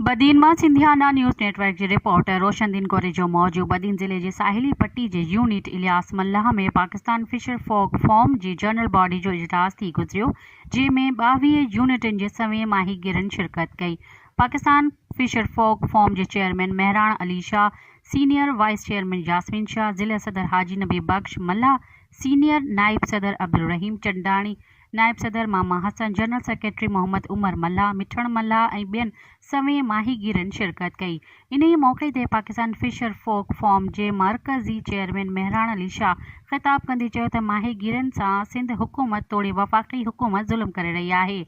بدين مان Sindhiana news network جي reporter Roshandin Korejo موجب بدين ضلعي جي ساحلي پٽي جي unit Ilyas Mallah ۾ Pakistan fisher folk forum جي جنرل باڊي جو اجلاس ٿي گذريو جنهن ۾ ٻاويهه يونٽن جي سوين ماهيگيرن شرڪت ڪئي پاڪستان فشر فوڪ فورم جي chairman Mehran Ali Shah senior vice chairman Yasmin Shah ضلعي صدر حاجي نبي بخش ملاح سينيئر نائب صدر عبدالرحيم چنداڻي نائب صدر ماما حسن، جنرل سيڪريٽري محمد عمر ملاح، مٺڻ ملاح ۽ ٻين سوين ماهيگيرن شرڪت ڪئي. انهيء موقعي تي پاڪستان فشر فوڪ فورم جي مرڪزي چيئرمين مهراڻ علي شاهه خطاب ڪندي چيو ته ماهيگيرن سان سنڌ حڪومت توڙي وفاقي حڪومت ظلم ڪري رهي آهي.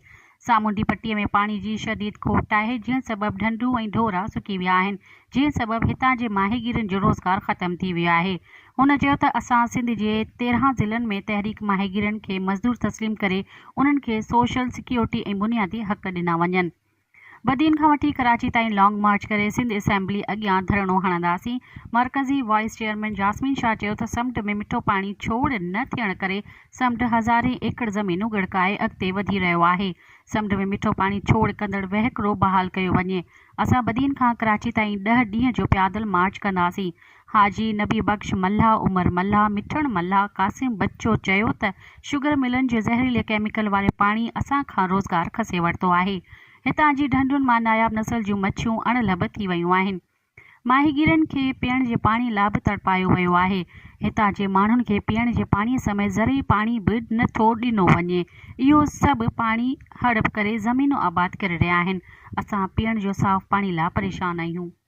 سامونڊي پٽي ۾ پاڻي جي شديد کوٽ آهي، جنهن سبب ڍنڍون ۽ ڍورا سڪي ويا آهن، جنهن سبب هتان جي ماهيگيرن جو روزگار ختم ٿي ويو آهي. هن چيو ته اسان سنڌ جي تيرهن ضلعن ۾ تحريڪ ماهيگيرن کي مزدور تسليم ڪري انهن کي سوشل سيڪيورٽي ۽ بنيادي حق ڏنا وڃن. بدين کان وٺي ڪراچي تائين لانگ مارچ ڪري سنڌ اسيمبلي اڳيان ڌرڻو هڻنداسين، مرڪزي وائيس چيئرمين جاسمين شاهه چيو ته سمنڊ ۾ مٺو پاڻي ڇوڙ نه ٿيڻ ڪري سمنڊ هزارين ايڪڙ زمينون ڳڙڪائي اڳتي وڌي رهيو آهي، سمنڊ ۾ مٺو پاڻي ڇوڙ ڪندڙ وهڪرو بحال ڪيو وڃي، اسان بدين کان ڪراچي تائين ڏهه ڏينهن جو پيادل مارچ ڪنداسين، حاجي نبي بخش ملاح، عمر ملاح، مٺڻ ملاح، قاسم بچو چيو ته شگر ملن جي زهريلي ڪيميڪل واري پاڻي اسان کان روزگار کسي ورتو آهي، هتان جي ڍنڍن مان ناياب نسل جون مڇيون اڻ لڀ ٿي ويون آهن، ماهيگيرن کي پيئڻ جي پاڻي لا به تڙپايو ويو آهي، هتان جي ماڻهن کي پيئڻ جي پاڻي سميت زرعي پاڻي به نه ٿو ڏنو وڃي، اهو سڀ پاڻي هڙپ ڪري زمينون آباد ڪري رهيا آهن، اسان پيئڻ جو صاف پاڻي لا پريشان آهيون.